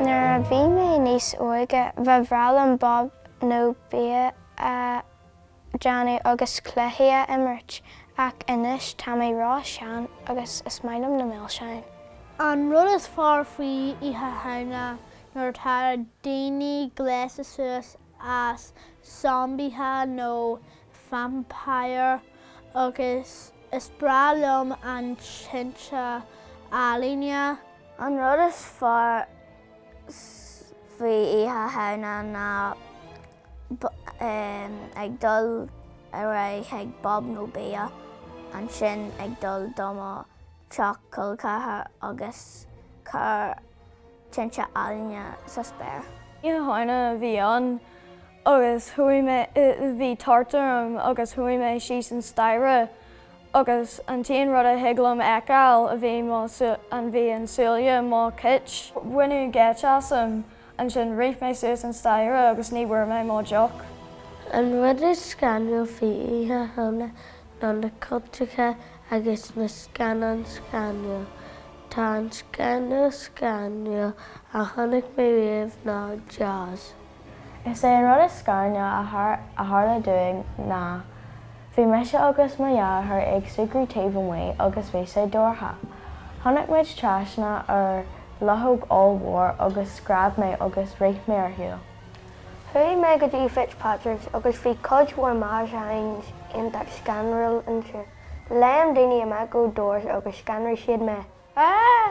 Nuair a bhí mé níos óige, ba bhreá liom bob nó bia a. déanamh agus cluichí a imirt, ach anois tá mé ró-shean agus is maith liom na milseáin. An rud is fearr faoi Oíche Shamhna nuair atá daoine gléasta suas as zombaithe nó vampire agus is breá liom an tinte ealaíne. An rud is fearr faoi Oíche Shamhna ná Ag dul ar aghaidh ag bob nó bia, ansin ag dul do mo teach col ceathrair agus cur tinte ealaíne sa spéir. Oíche Shamhna a bhí ann agus chuaigh mé, bhí tart orm agus chuaigh mé síos an staighre agus an t-aon rud a thig liom a fheiceáil ná bhí an, bhí an súile mo chit. Baineadh geit asam Ansin rith mé suas an staighre agus ní bhfuair mé mo dheoch. An rud is scanrúil faoi Oíche Shamhna ná na cultacha agus na scannáin scanrúil. Tá an scanrúil scanrúil a chonaic mé riamh ná Jaws. Is é an rud is scanrúil a tharla dúinn ná Bhí mise agus mo dheartháir ag súgradh taobh amuigh agus bhí sé dorcha. Tháinig muid trasna ar luchóg ollmhór agus scread mé agus rith mé ar shiúl. Chuaigh mé go dtí Fitzpatrick's agus bhí cuid mhór maisiúcháin iontach scanrúil ansin. Léim daoine amach ó doors agus scanraigh siad mé. Aaaaaaaaaaaaaaaaa!